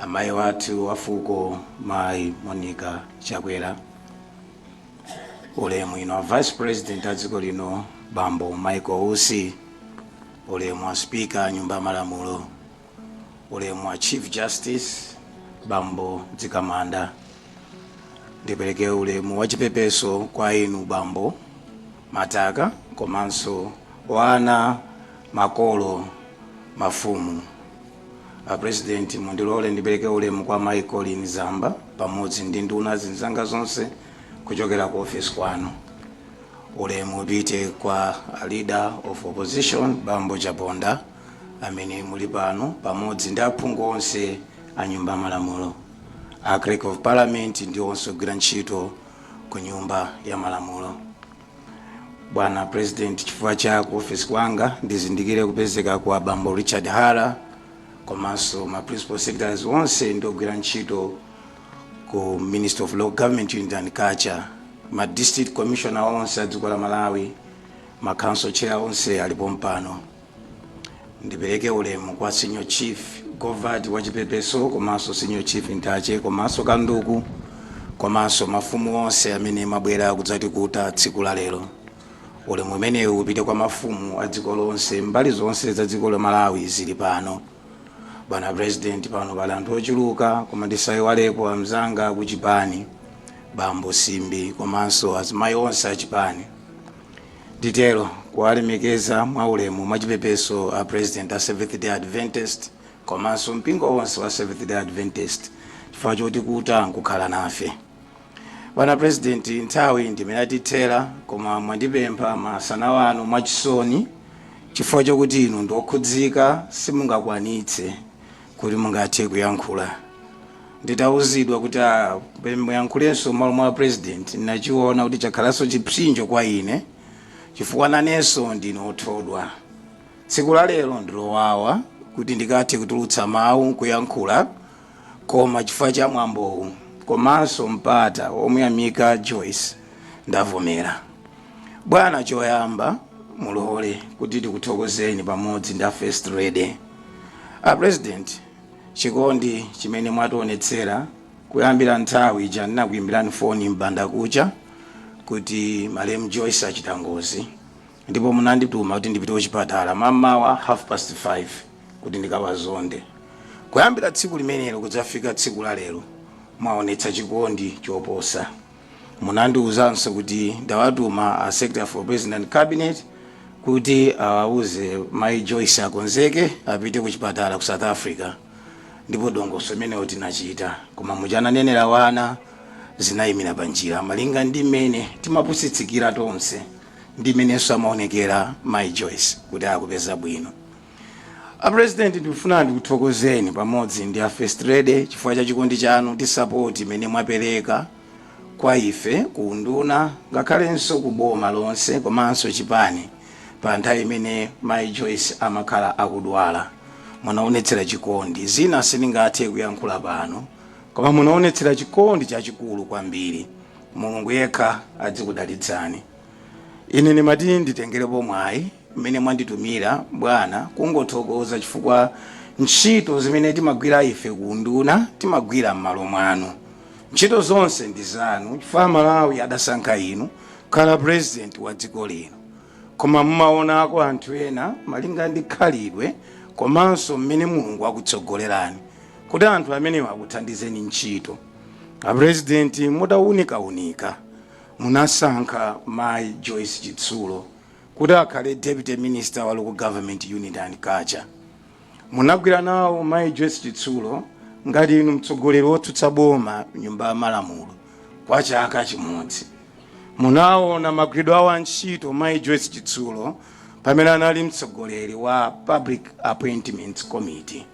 Amayi athu a fuko Mayi Monica Chakwera, Ulemu inu a Vice President a dziko lino Bambo Michael Usi, Ulemu a Speaker a Nyumba ya Malamulo, Ulemu a Chief Justice Bambo Mzikamanda, ndipereke ulemu wachipepeso kwa inu Bambo Mataka komanso ana makolo mafumu A president mundilore ndipereke ulemu kwa mai Colleen Zamba pamodzi ndi nduna zinzanga zonse kuchokera ku office kwanu. Ulemu upite kwa a leader of opposition bambo Chaponda amene muli pano pamodzi ndi aphungu onse a nyumba ya malamulo, a clerk of parliament ndi onse ogwira ntchito ku nyumba ya malamulo bwana president chifukwa cha ku ofesi kwanga ndizindikire kupezeka kwa abambo richard hara komanso ma principal secretaries onse ndi ogwira ntchito ku ministry of local government unity and culture ma district commissioner onse a dziko la malawi ma council chair onse ali pompano Ndipereke ulemu kwa Senior Chief Govati wachipepeso komanso Senior Chief Ntache komanso Kanduku komanso mafumu onse amene mwabwera kudzatikuta tsiku la lero. Ulemu umenewu upite kwa mafumu a dziko lonse mbali zonse za dziko la Malawi zili pano. Bwana President pano pali anthu ochuluka koma ndisaiwalepo amzanga akuchipani, Bambo Simbi komanso azimayi onse achipani. nditero kuwalemekeza mwaulemu mwachipepeso a president a seventh day adventist komanso mpingo wonse wa seventh day adventist chifukwa chotikuta nkukhala nafe bwana president nthawi ndi imene yatithera koma mwandipempha masana ano mwachisoni chifukwa chokuti inu ndiokhudzika simungakwanitse kuti mungathe kuyankhula nditauzidwa kuti ah, pe- muyankhulenso m'malo mwa president ndinachiona kuti chakhalanso chipsinjo kwa ine chifukwa nanenso ndine othodwa tsiku la lero ndilowawa kuti ndikathe kutulutsa mawu nkuyankhula koma chifukwa cha mwambowu komanso mpata omuyamika joyce ndavomera Bwana choyamba mulole kuti tikuthokozeni pamodzi ndi a First Lady. A President, chikondi chimene mwationetsera kuyambira nthawi ija ndinakuyimbirani foni m'banda kucha kuti malemu Joyce achita ngozi ndipo munandituma kuti ndipite kuchipatala mamawa half past 5 kuti ndikawazonde. Kuyambira tsiku limenelo kudzafika tsiku la lero mwaonetsa chikondi choposa. munandiuzanso kuti ndawatuma a secretary for president cabinet kuti awauze mai joyce akonzeke apite ku chipatala ku south africa ndipo dongosolo limenelo tinachita koma muja ananenera wana zinayimira pa njira malinga ndi mmene timapusitsikira tonse ndi mmenenso amaonekera mai joyce kuti akupeza bwino A president ndikufuna ndikuthokozeni pamodzi ndi a first lady chifukwa cha chikondi chanu ndi support imene mwapereka kwa ife ku unduna ngakhalenso ku boma lonse komanso chipani pa nthawi imene Mai Joyce amakhala akudwala. Munaonetsera chikondi. Zina sindingathe kuyankhula pano koma munaonetsera chikondi chachikulu kwambiri. Mulungu yekha adzikudalitsani. Ine ndimati nditengerepo mwayi umene mwanditumira bwana kungothokoza chifukwa ntchito zimene timagwira ife ku unduna timagwira mmalo mwanu ntchito zonse ndi zanu chifukwa amalawi adasankha inu kukhala president wa dziko lino koma mumaonako anthu ena malinga ndi khalidwe komanso mmene mulungu wakutsogolerani kuti anthu amenewa akuthandizeni ntchito apresidenti mutaunikaunika munasankha mayi joyce chitsulo kuti akhale deputy minister wa local government unity and culture. Munagwira nawo Mayi Joyce Chitsulo ngati inu mtsogoleri wotsutsa boma nyumba ya malamulo kwa chaka chimodzi. Munaona magwiridwe awo a ntchito Mayi Joyce Chitsulo pamene anali mtsogoleri wa Public Appointments Committee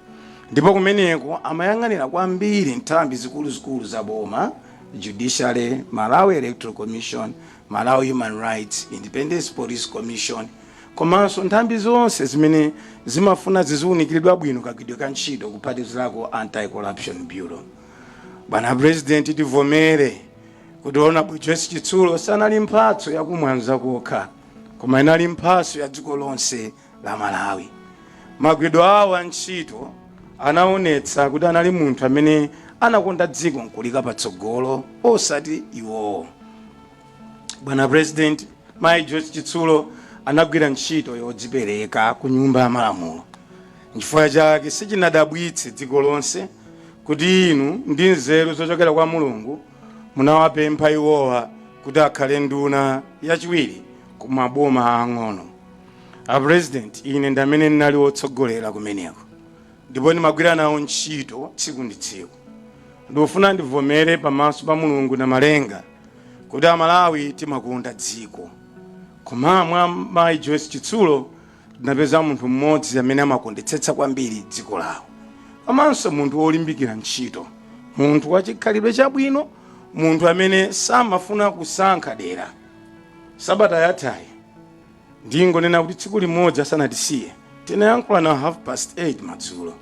ndipo kumeneko amayang'anira kwambiri nthambi zikuluzikulu za boma judiciary malawi electoral commission Malawi Human Rights Independence Police Commission komanso nthambi zonse zimene zimafuna ziziwunikiridwa bwino kagwidwe ka ntchito kuphatikizirako Anti-Corruption Bureau. Bwana President, tivomere kuti Hon. Joyce Chitsulo sanali mphatso ya ku Mwanza kokha koma inali mphatso ya dziko lonse. la Malawi. Magwidwe awo a ntchito anaonetsa kuti anali munthu amene anakonda dziko nkulika patsogolo osati iwowo. Bwana President, Mayi Joyce Chitsulo anagwira ntchito yodzipereka ku Nyumba ya Malamulo. Nchifukwa chake sichinadabwitse dziko lonse kuti inu ndi nzeru zochokera kwa Mulungu munawapempha iwowa kuti akhale nduna yachiwiri ku maboma aang'ono. a president ine ndamene ndinali wotsogolera kumeneko ndipo ndimagwira nawo ntchito tsiku ndi tsiku ndikufuna ndivomere pamaso pa mulungu na malenga kuti amalawi timakonda dziko koma mwa mayi joyce chitsulo tinapeza munthu mmodzi amene amakondetsetsa kwambiri dziko lawo komanso munthu wolimbikira ntchito munthu wachikhalidwe chabwino munthu amene samafuna kusankha dera sabata yathayi Ndingonena kuti tsiku limodzi asanatisiye, tinayankhulana half past 8 madzulo.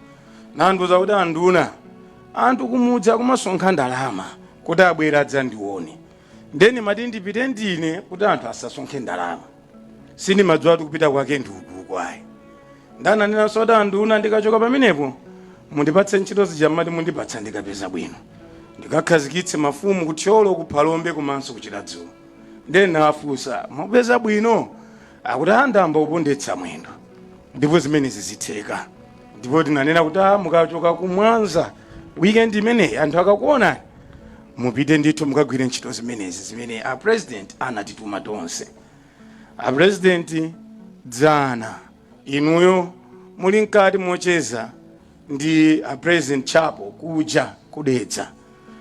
Nandiuza kuti anduna, anthu kumudzi akumasonkha ndalama kuti abwere adzandione. Ndiye ndimati ndipite ndine kuti anthu asasonkhe ndalama. Sindimadziwa kuti kupita kwake ndi ukuuku ayi. Ndiye ananenanso kuti anduna ndikachoka pamenepo, mundipatse ntchito zija mumati mundipatsa ndikapeza bwino. Ndikakhazikitse mafumu ku Thyolo, ku Phalombe komanso ku Chiradzulu. ndiye ndinawafunsa mupeza bwino akuti ah ndayamba kupondetsa mwendo ndipo zimenezi zitheka ndipo tinanena kuti "Ah, mukachoka ku mwanza weekend imeneyi anthu akakuonani mupite ndithu mukagwire ntchito zimenezi zimene a president anatituma tonse a president dzana inuyo muli mkati mocheza ndi a president chapo kuja ku dedza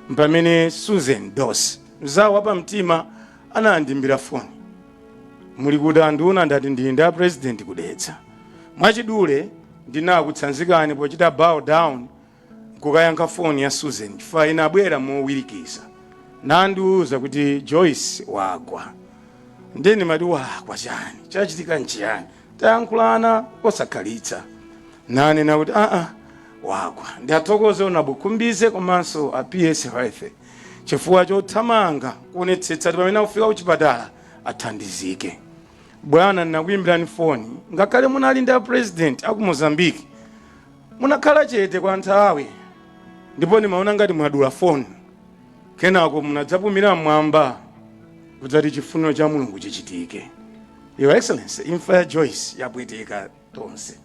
mpamene susan dossi mzawo wapamtima anandimbira foni muli kuti anduna ndati ndili ndi a president ku dedza mwachidule ndinakutsanzikani pochita bow down nkukayankha foni ya susan chifukwa inabwera mowirikiza nandiuza kuti joyce wagwa ndiye ndimati wagwa chani chachitika nchiyani Tayankhulana posakhalitsa nanena kuti aa wagwa. Ndiathokoze Hon. Khumbize komanso a PS Health chifukwa chothamanga kuonetsetsa kuti pamene akufika kuchipatala athandizike. Bwana ndinakuimbirani foni ngakhale munali ndi a President aku Mozambique munakhala chete kwa nthawi ndipo ndimaona ngati mwadula foni. Kenako munadzapumira m'mwamba kudzati chifuniro cha Mulungu chichitike. Your Excellency, imfa ya Joyce yapweteka tonse.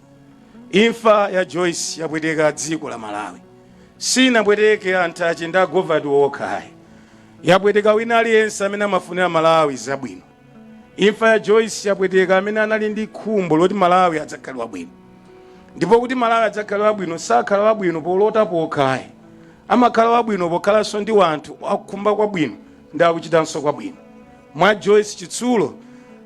Imfa ya Joyce yapweteka dziko la Malawi. Sinapweteke anthu a chinda a govati okha ayi. Yapweteka wina aliyense amene amafunira Malawi zabwino. Imfa ya Joyce yapweteka amene anali ndi khumbo loti Malawi adzakhale wabwino. Ndipo kuti Malawi adzakhale wabwino sakhala wabwino polota pokha ayi. Amakhala wabwino pokhalanso ndi wanthu akukhumba kwabwino ndi akuchitanso kwabwino. Mwa Joyce Chitsulo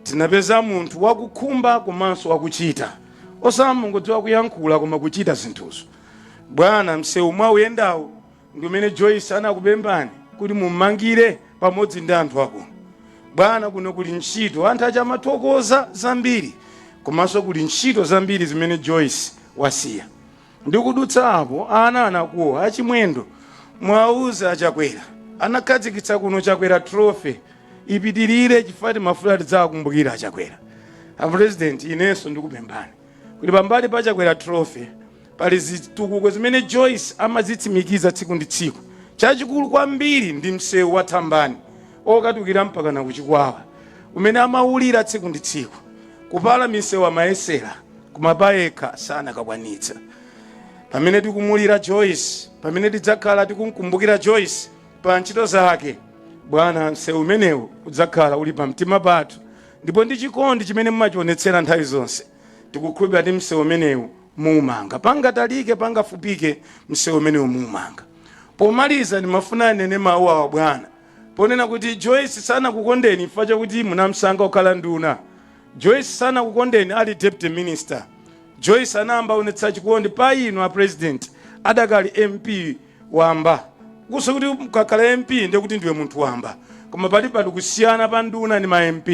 tinapeza munthu wakukhumba komanso wakuchita. Osamangodziwa kuyankhula koma kuchita zinthuzo. Bwana msewu mwauyendawu ndi umene Joyce anakupemphani kuti mummangire pamodzi ndi anthu akuno bwana kuno kuli ntchito anthu akumathokoza zambiri komanso kuli ntchito zambiri zimene Joyce wasiya ndikudutsa apo ana anakuwa a Chimwendo muwauze a Chakwera anakhazikitsa kuno chakwera trophy ipitirire chifukwa timafuna tidzakumbukira a Chakwera a president inenso ndikupemphani kuti pambali pa chakwera trophy Pali zitukuko zimene Joyce amazitsimikiza tsiku ndi tsiku. Chachikulu kwambiri ndi msewu wa Thambani okatulukira mpakana ku Chikwawa umene amaulirira tsiku ndi tsiku. Kupala misewu amayesera koma payekha sanakakwanitsa. Pamene tikumulira Joyce, pamene tidzakhala tikumkumbukira Joyce pa ntchito zake, bwana, msewu umenewu udzakhala uli pamtima pathu ndipo ndi chikondi chimene mumachionetsera nthawi zonse. tikukhulupira kuti msewu umenewu muumanga pangatalike pangafupike msewu umenewu muumanga pomaliza ndimafuna ndinene mawu awa bwana ponena kuti joyce sanakukondeni chifukwa chakuti munamsankha kukhala nduna joyce sanakukondeni ali deputy minister joyce anayamba kuonetsa chikondi pa inu a president adakali mp wamba osati kuti ukakhala mp ndiye kuti ndiwe munthu wamba koma pali pali kusiyana pa nduna ndi ma mp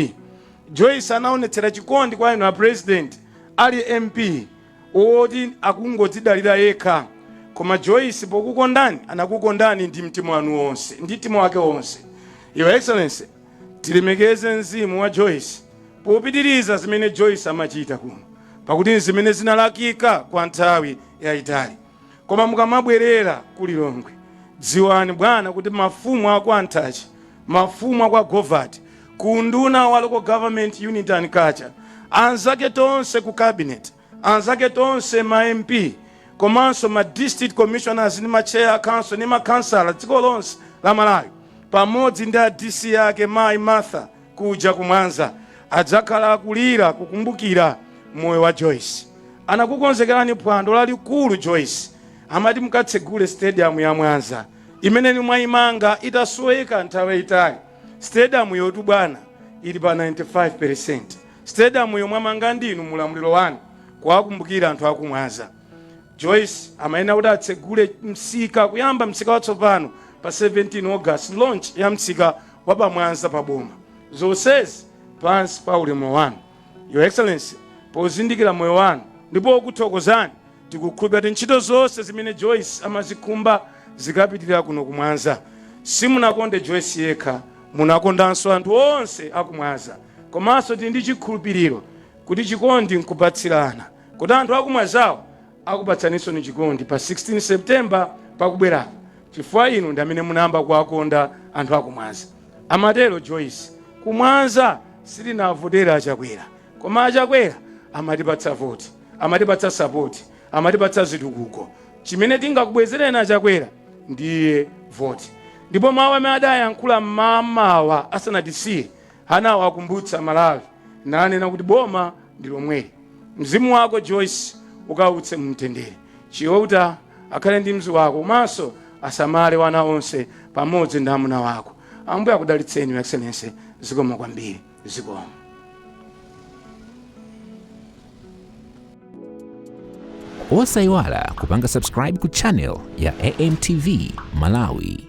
Joyce anaonetsera chikondi kwa inu a president ali MP oti akungodzidalira yekha koma Joyce pokukondani anakukondani ndi mtima wanu wonse ndi mtima wake wonse. Your Excellency tilemekeze mzimu wa Joyce popitiriza zimene Joyce amachita kuno pakuti nzimene zinalakalakika kwa nthawi yaitali. koma mukamabwerera ku lilongwe dziwani bwana kuti mafumu akwa Nthache mafumu akwa govati ku unduna wa local government unity and culture anzake tonse ku cabinet anzake tonse ma mp komanso ma district commissioners ndi ma chair a council ndi ma councilor dziko lonse la malawi pamodzi ndi a dc ake mayi martha kuja ku mwanza adzakhala akulira kukumbukira moyo wa joyce anakukonzekerani phwando lalikulu joyce amati mukatsegule stadium ya mwanza imene inu mwayimanga itasoweka nthawi yayitali stadiumyotu bwana ili pa 95% stadiumyo mwamanga ndinu mu ulamuliro wanu kuwakumbukira anthu aku mwanza joyce amayenera kuti atsegule msika kuyamba msika watsopano pa 17 august launch ya msika wa pa Mwanza pa boma. Zonsezi pansi pa ulamuliro wanu. Your Excellency, pozindikira moyo wanu ndi pokuthokozani tikukhulupira kuti ntchito zonse zimene Joyce amazikhumba zikapitirira kuno ku Mwanza. Simunakonde Joyce yekha, munakondanso anthu onse a ku Mwanza. Komanso tili ndi chikhulupiriro kuti chikondi nkupatsirana kuti anthu a ku Mwanzawo Akupatsaninso chikondi pa 16 September pakubwerapo chifukwa inu ndi amene munayamba kuwakonda anthu aku Mwanza. Amatero Joyce. Ku Mwanza sitinavotera a Chakwera koma a Chakwera amatipatsa voti, amatipatsa sapoti, amatipatsa zitukuko. Chimene tingakubwezereni a Chakwera ndiye voti. Ndipo mawu amene adayankhula mmamawa asanatisiye Anawakumbutsa Amalawi nanena kuti boma ndi lomweli. Mzimu wako Joyce ukause mu mtendere. Chiouta akhale ndi mzi wako komanso asamale wana onse pamodzi ndi amuna wako. Ambuye akudalitseni Your Excellency. Zikomo kwambiri. Zikomo. Osayiwala kupanga subscribe ku channel ya AMTV Malawi.